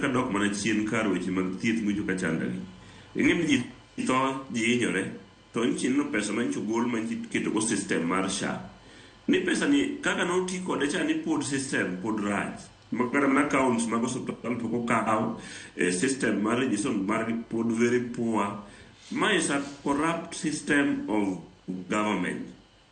kadok mana chien kar weche mag thieth mucho ka chandagi. Ing'e ni ji tho, ji hinyore, to nyicha ineno pesa ma nyicha ogol ma nyicha iketogo system mar SHA. Ni pesani kaka noti kode cha ni pod system pod rach. Ma kata mana accounts mag osiptal pok okaw, eh, system mar registration margi pod very poor. Ma is a corrupt system of government.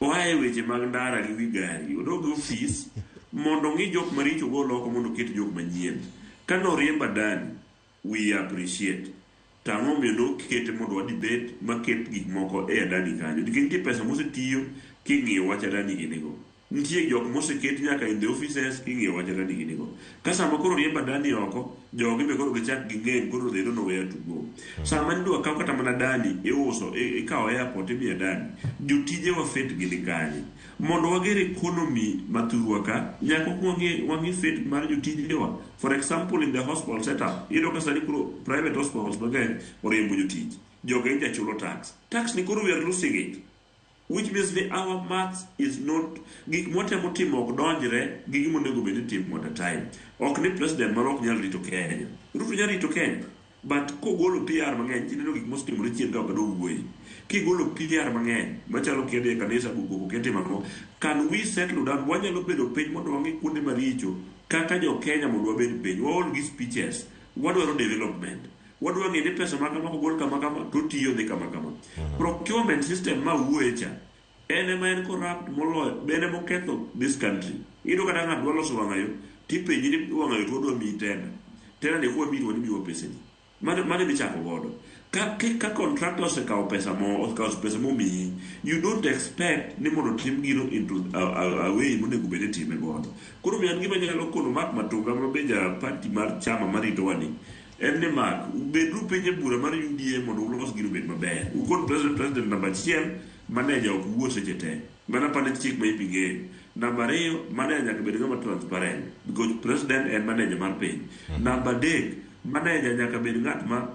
Oa e weche mag ndara gi wi gari, odog e ofis mondo ong'i jok maricho ogol oko mondo oket jok manyien. Kane oriemba Dani, wiye appreciate. To ang'o momiyo ne ok ikete mondo wadhi bet maket gik moko e Adani kanyo? Nikech nitie pesa mosetiyo king'iyo wach Adani gini go. Nitie jok moseket nyaka in the offices king'iyo wach atadi gini go. Ka sama koro oriemb adani oko, jogi be koro gichak ging'eng koro they don't know where to go. Sama nidwa kaw kata mana dani iuso, i- ikawo airport imiyo dani. Jotije wa fit gi ni kanye. Mondo wager economy ma thurwa ka, nyaka ok wang'e wang'e fit mar jotije wa. For example in the hospital setup, iyudo ka sani koro private hospitals mang'eny oriembo jotich. Jogi nja chulo tax. Tax ni koro we are losing it. Which means ni our maths is not, gik mwatemo timo ok donjre gi gima onego bed ni itimo at a time. Ok ni president marwa ok nyal rito Kenya. Ruto nyalo rito Kenya, but kogolo PR mang'eny, ji neno gik mosetimore chien ka ok gidwa wuoye. Kigolo PR mang'eny, machalo kidhi e kanisa go koko kia timo ang'o, can we settle down? Wanyalo bedo piny mondo wang'i kuonde maricho kaka jo Kenya mondo wabed piny. Waol gi speeches. Wadwaro development. Wadwa ng'e ni pesa makama kogol kama kama to otiyo dhi kama kama. Procurement system ma wuoye cha en ema en corrupt moloyo bende moketho this country. Iyudo kata ng'ato dwa loso wang'ayo tipenji ni wang'ayo to wadwa miyi tenda. Tenda ni kwa miyi to wamiwa peseni. Mano mano michako godo. Ka ki- ka contractor osekawo pesa mo osekawo pesa momiyi you don't expect ni mondo tim gino into a, a, a way monego bed ni time godo. Koro be an gima nyalo kono Mark Matunga ma be ja party mar chama marito wani En ni Mark, bedru piny e bura mar UDA mondo ulos gino obed maber. Ukon president president namba achiel, maneja ok wuo seche te. Mano apani chik ma ipi ng'eyo. Namba ariyo, maneja nyaka bed ng'ama transparent because president en maneja mar piny. Namba adek, maneja nyaka bed ng'at ma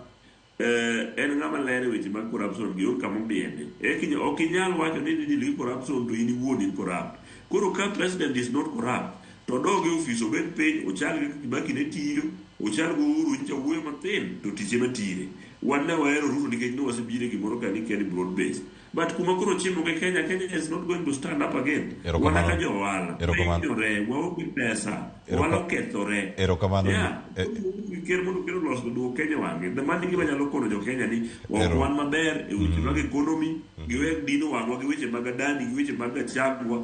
eh, en ng'ama ler e weche mag corruption gi onge kama omiende. Eka inya- ok inyal wacho ni ni deal gi corruption to in iwuon in corrupt. Koro ka president is not corrupt, To odog e ofis obed piny ochal gi Kibaki ne tiyo, ochal gi Uhuru nyicha owuoyo mathin to tich ema tire. Wan ne wahero Ruto nikech ne wasebiro e gimoro ka ni kia ni broad based. But kuma koro ochimo gi Kenya, Kenya is not going to stand up again. Erokamano. Wan kaka jo ohala, Erokamano. wahinyore, waonge pesa, Erokam- ohala okethore. Erokamano. Yeah. E- Ker mondo ker olos duok Kenya wang'e. The mani gima nyalo kono jo Kenya ni ok Ero. wan maber e weche mag economy, giwe dino wang'wa gi weche mag adani, gi weche mag achagwa,